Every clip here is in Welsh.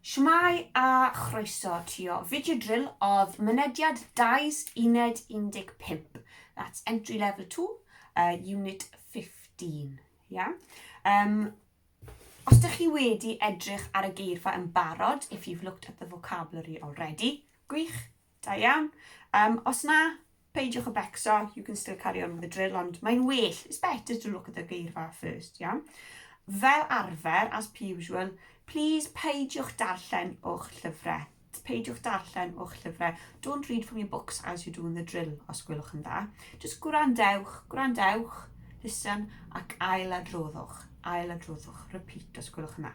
Shwmae a chroeso tio Video Drill oedd mynediad Dais Uned 15, that's Entry Level 2, uh, Unit 15. Yeah? Um, Os ydych chi wedi edrych ar y geirfa yn barod, if you've looked at the vocabulary already, gwych, Da iawn. Yym, os na, peidiwch â becso, you can still carry on with the drill, ond mae'n well, it's better to look at the geirfa first, iawn? Fel arfer, as per usual, please peidiwch darllen o'ch llyfrau. Peidiwch darllen o'ch llyfrau. Don't read from your books as you're doing the drill, os gwelwch yn dda. Just gwrandewch, gwrandewch, listen, ac ail adroddwch, ail adroddwch, repeat, os gwelwch yn dda.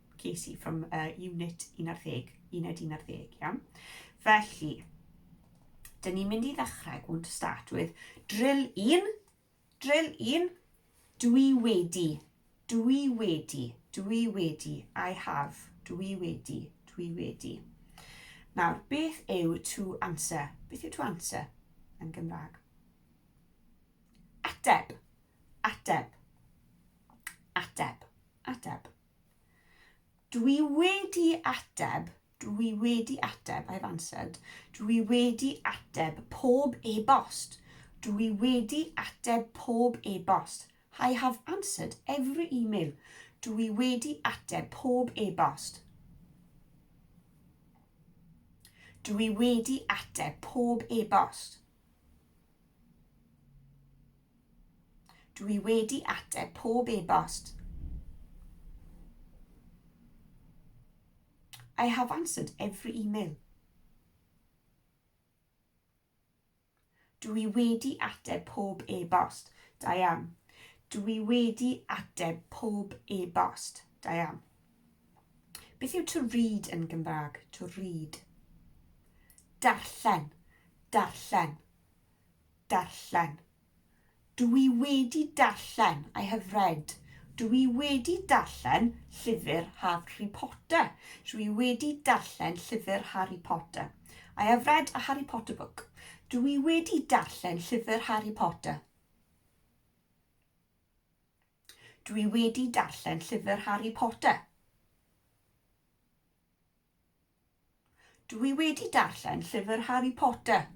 ges i from uh, unit 11, uned 11, iawn? Felly, dyn ni'n mynd i ddechrau, going to start with, drill 1, drill 1, dwi wedi, dwi wedi, dwi wedi, I have, dwi wedi, dwi wedi. Nawr, beth yw to answer? Beth yw to answer yn Gymraeg? Ateb, ateb, ateb, ateb. Dwi wedi ateb, dwi wedi ateb, I've answered. Dwi wedi ateb pob e-bost. Dwi wedi ateb pob e-bost. I have answered every email. Dwi wedi ateb pob e-bost. Dwi wedi ateb pob e-bost. Dw i wedi ateb pob e-bost. I have answered every email. Dw i wedi ateb pob e-bost. Da iawn. Dw i wedi ateb pob e-bost. Da iawn. Beth yw to read yn Gymraeg? To read. Darllen. Darllen. Darllen. Dw i wedi darllen. I have read. Dw i wedi darllen llyfr Harry Potter. Dw i wedi darllen llyfr Harry Potter. I have read a Harry Potter book. Dw i wedi darllen llyfr Harry Potter. Dwi wedi darllen llyfr Harry Potter. Dwi wedi darllen llyfr Harry Potter.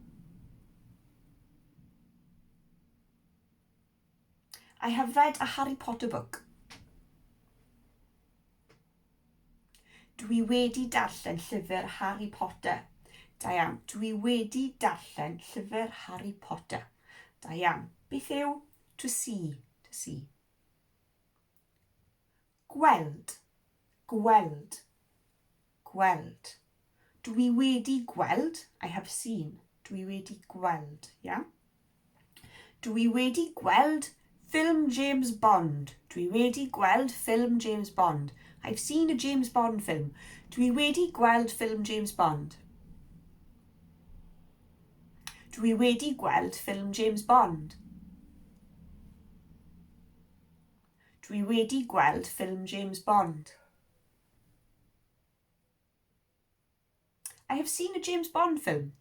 I have read a Harry Potter book. Dwi wedi darllen llyfr Harry Potter. Da iawn. Dwi wedi darllen llyfr Harry Potter. Da iawn. Beth yw To see, to see. Gweld, gweld, gweld. Dwi wedi gweld, I have seen. Dwi wedi gweld, yeah? Dwi wedi gweld ffilm James Bond. Dwi wedi gweld ffilm James Bond. I've seen a James Bond film. Dwi wedi gweld ffilm James Bond. Dwi wedi gweld ffilm James Bond. Dwi wedi gweld ffilm James Bond. I have seen a James Bond film.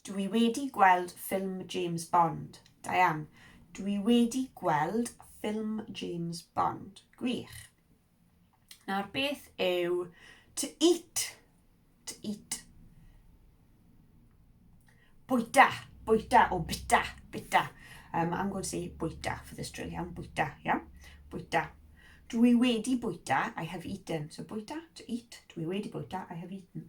Dw i wedi gweld ffilm James Bond. Diane, Dw i wedi gweld ffilm James Bond. Gwych. Nawr, beth yw to eat? To eat. Bwyta, bwyta, o bita, bita. Um, I'm going to say bwyta for this drill, iawn, bwyta, iawn, bwyta. Dwi wedi bwyta, I have eaten. So bwyta, to eat, dwi wedi bwyta, I have eaten.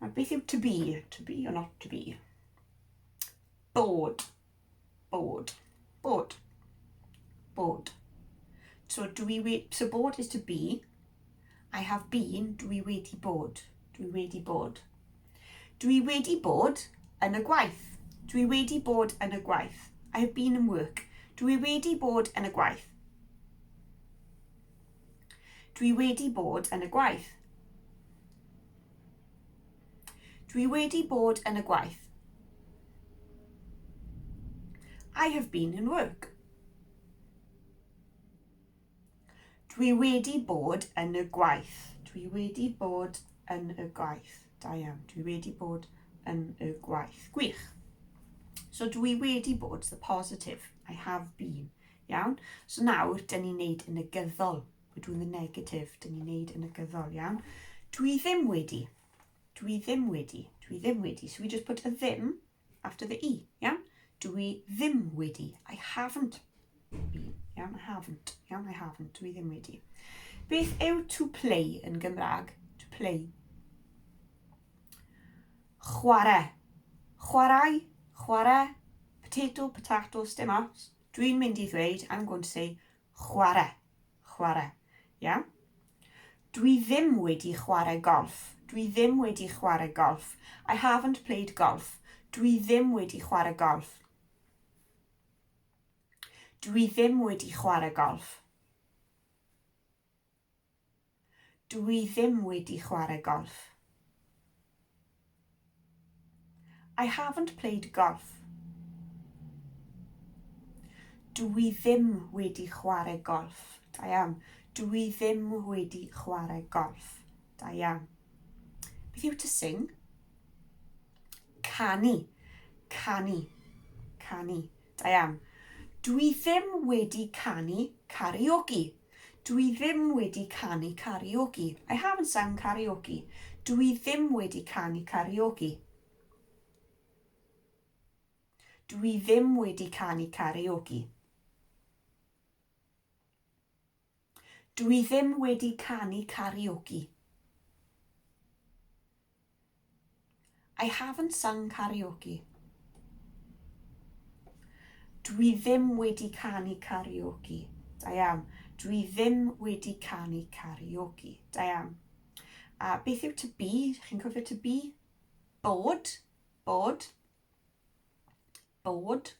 Nawr, beth yw to be? To be or not to be? Bod. Bod. Bod. Bod. So, do we wait? So, bod is to be. I have been. Do we wait i bod? Do we wait i bod? Do we wait i bod yn y gwaith? Do we wait i bod yn y gwaith? I have been in work. Do we wait i bod yn y gwaith? Dwi wedi bod yn y gwaith. Dwi wedi bod yn y gwaith. I have been in work. Dwi wedi bod yn y gwaith. Dwi wedi bod yn y gwaith. Da iawn. Dwi wedi bod yn y gwaith. Gwych. So dwi wedi bod, the positive. I have been. Iawn? So nawr, dyn ni'n neud yn y gyddol. We're doing the negative, dyn ni'n neud yn y gyddol, iawn. Dwi ddim wedi. Dwi ddim wedi. Dwi ddim wedi. So we just put a ddim after the e, iawn? Dwi ddim wedi. I haven't been, iawn? I haven't, iawn? I haven't. Dwi ddim wedi. Beth yw to play yn Gymraeg? To play. Chwarae. Chwarae, chwarae, potato, potatoes, dim ots. Dwi'n mynd i ddweud, I'm going to say, Chware. Chware. Iawn? Dwi ddim wedi chware golff. Dwi ddim wedi chware golff. I haven't played golf. Dwi ddim wedi chware golff. Dwi ddim wedi chware golff. Dw i ddim wedi chwarae golff. I haven't played golf. Dw i ddim wedi chwarae golff. Da iawn. Dw i ddim wedi chwarae golff. Da iawn. Beth yw to sing? Canu. Canu. Canu. Da iawn. Dwi ddim wedi canu karaoke. Dwi ddim wedi canu karaoke. I haven't sung karaoke. Dwi ddim wedi canu karaoke. Dwi ddim wedi canu karaoke. Dw i ddim wedi canu karaoke. I haven't sung karaoke. Dw i ddim wedi canu karaoke. Da iawn. Dw i ddim wedi canu karaoke. Da iawn. A beth yw to be? Chi'n cofio to be? Bod. Bod. Bod?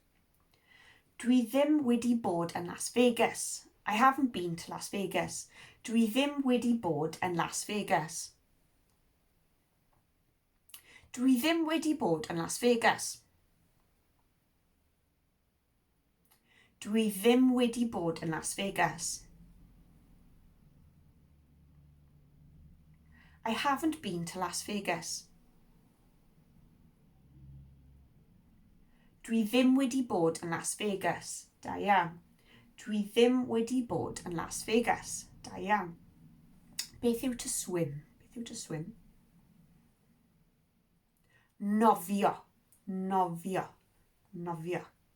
Dwi ddim wedi bod yn Las Vegas. I haven't been to Las Vegas. Dwi ddim wedi bod yn Las Vegas. Dwi ddim wedi bod yn Las Vegas. Dwi ddim wedi bod yn Las Vegas. I haven't been to Las Vegas. Dwi ddim wedi bod yn Las Vegas. Da iawn. Dwi ddim wedi bod yn Las Vegas. Da iawn. Beth yw to swim? Beth yw to swim? Nofio. Nofio. Nofio.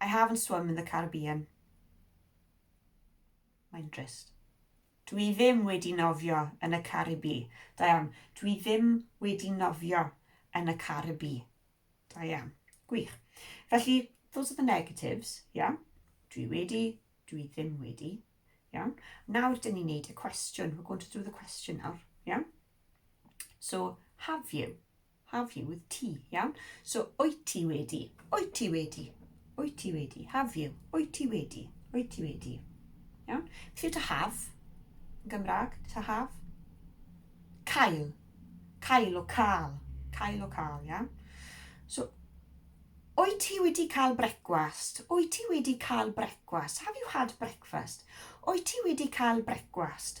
I haven't swum in the Caribbean. Mae'n drist. Dwi ddim wedi nofio yn y Caribi. Da iawn. Dwi ddim wedi nofio yn y Caribi. Da iawn. Gwych. Felly, those are the negatives, iawn. Dwi wedi, dwi ddim wedi, iawn. Nawr, dyn ni'n neud y cwestiwn. We're going to do the question nawr, iawn. So, have you? Have you with ti, iawn? So, wyt ti wedi, wyt ti wedi, wyt ti wedi, have you, wyt ti wedi, wyt ti wedi. Iawn? Felly to have, yn Gymraeg, to have. Cael, cael o cael, cael o cael, iawn? So, Wyt ti wedi cael brecwast? Wyt ti wedi cael brecwast? Have you had breakfast? Wyt ti wedi cael brecwast?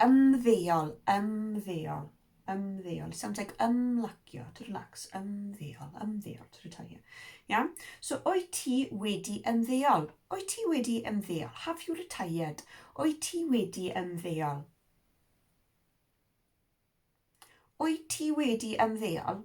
Ymddeol, ymddeol, ymddeol. It sounds like ymlacio, to relax, ymddeol, ymddeol, to retire. Iawn? So, wyt ti wedi ymddeol? Wyt ti wedi ymddeol? Have you retired? Wyt ti wedi ymddeol? Wyt ti wedi ymddeol?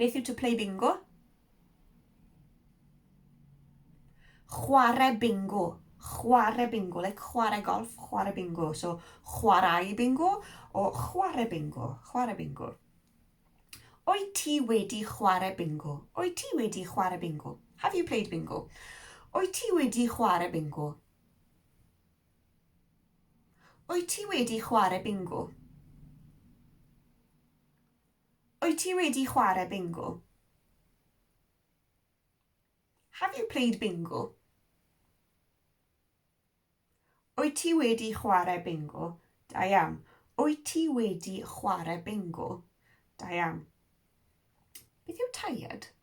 Beth yw to play bingo? Chwarae bingo. Chwarae bingo, like chwarae golf, chwarae bingo. So, chwarae bingo o chwarae bingo. Chwarae bingo. O'i ti wedi chwarae bingo? O'i ti wedi chwarae bingo? Have you played bingo? O'i ti wedi chwarae bingo? O'i ti wedi chwarae bingo? Wyt ti wedi chwarae bingo? Have you played bingo? Wyt ti wedi chwarae bingo? Da iawn. Wyt ti wedi chwarae bingo? Da iawn. Beth yw tired?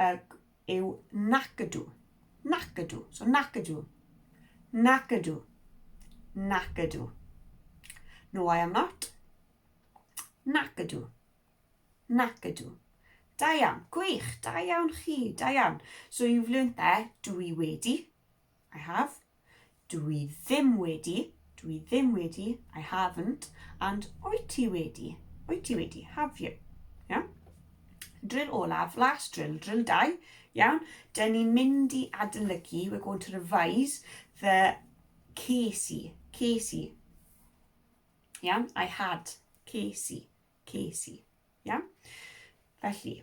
er, yw nac ydw. Nac ydw. So nac ydw. Nac ydw. Nac ydw. No, I am not. Nac ydw. Nac ydw. Da iawn. Gwych. Da iawn chi. Da iawn. So you've learnt there, dwi wedi. I have. Dwi ddim wedi, dwi ddim wedi, I haven't, and wyt ti wedi, wyt ti wedi, have you. Iawn? Drill olaf, last drill, drill 2, iawn? Dyn ni'n mynd i adolygu, we're going to revise the Casey, Casey. Iawn? I had Casey, Casey. Iawn? Felly,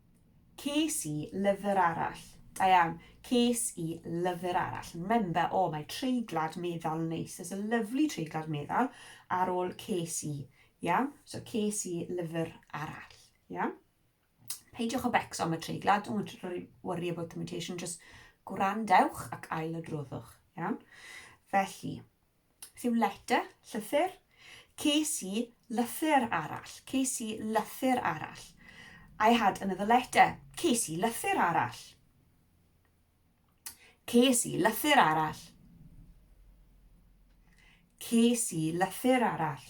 Ces i lyfr arall. Da iawn. Ces i lyfr arall. Remember, oh, mae treiglad meddal yn neis. There's a lovely treiglad meddal ar ôl ces i. Iawn? So, ces i lyfr arall. Iawn? Peidiwch o becso am y treiglad. Don't worry about the mutation. Just gwrandewch ac ail adroddwch. Iawn? Felly, Beth yw letter? Llythyr. Ces i lythyr arall. Ces i lythyr arall. I had another letter. Ces i lythyr arall. Ces i lythyr arall. Ces i lythyr arall.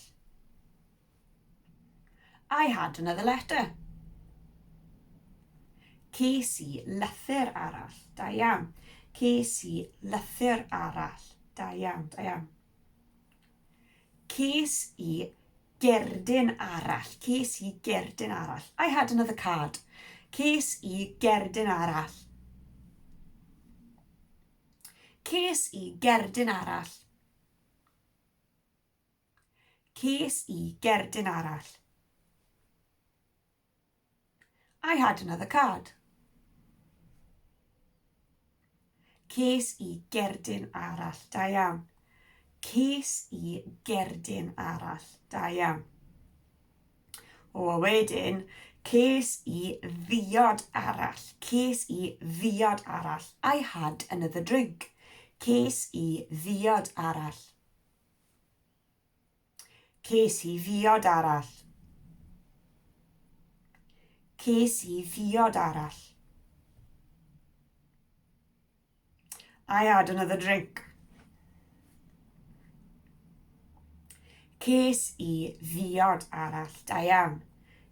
I had another letter. Ces i lythyr arall. Da iawn. Ces i lythyr arall. Da iawn, da iawn. Ces i gerdyn arall. Ces i gerdyn arall. I had another card. Ces i gerdyn arall. Ces i gerdyn arall. Ces i gerdyn arall. I had another card. Ces i gerdyn arall. Da iawn. Ces i gerdyn arall. Da iawn. O, a wedyn, ces i ddiod arall. Ces i ddiod arall. I had another drink. Ces i ddiod arall. Ces i ddiod arall. Ces i ddiod arall. I had another drink. Ces i ddiod arall. Da iawn.